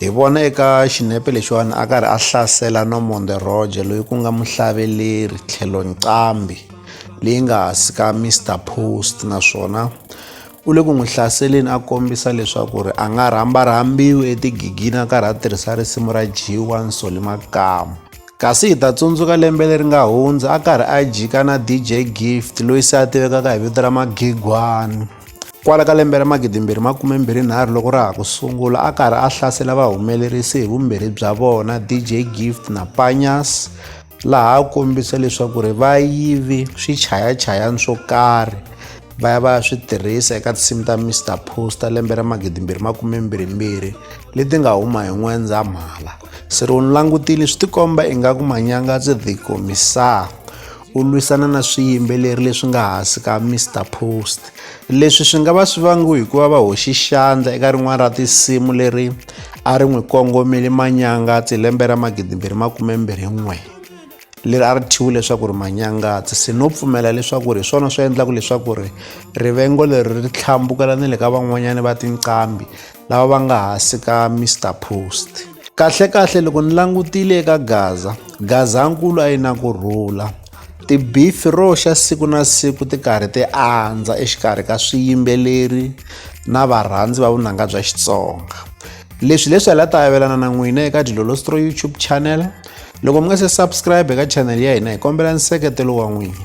Hi vona eka xinepe lexiwani a karhi a hlasela Normond Roger loyi ku nga muhlaveleri tlhelo nqambi leyi nga hansi ka Mr Post naswona u le ku n'wi hlaseleni a kombisa leswaku ri a nga rhamba rhambiwi etigigini a karhi a tirhisa risimu ra G1 Soli Makamu kasi hi ta tsundzuka lembe leri nga hundza a karhi a jika na DJ Gift loyi se a tivekaka hi vito ra Magigwani Kwala ka lembe ra 2023 loko ra ha ku sungula a karhi a hlasela vahumelerisi hi vumbirhi bya vona DJ Gift na Panyas laha a kombisa leswaku ri va yivi swichayachayani swo karhi va ya va ya swi tirhisa eka tinsimu ta Mr Poster lembe ra 2022 leti nga huma hi N'wendzamhala. Siriwunilangutile swi tikomba ingaku Manyanga ndzi tikomisaa. u lwisana na swiyimbeleri leswi nga hansi ka Mr Post leswi swi nga va swi vangiwe hikuva va hoxi xandla eka rin'wana ra tinsimu leri a ri n'wi kongomeli manyangatsi hi lembe ra magidimbirhi makume mbirhi n'we leri a ri thyiwi leswaku ri manyangatsi se no pfumela leswaku ri hi swona swi endlaka leswaku ri rivengo leri ri tlhambukela ni le ka van'wanyana va tinqambi lava va nga hansi ka Mr Post. Kahlekahle loko ni langutile eka Gaza, Gazankulu a yi na ku rhula. Tibifi roxa siku na siku ti karhi ti andza exikarhi ka swiyimbeleri na varhandzi va vunanga bya Xitsonga. Leswi leswi hi la ta avelana na n'wina eka Dilolostro YouTube channel. Loko mi nga se subscribe eka channel ya hina hi kombela nseketelo wa n'wina.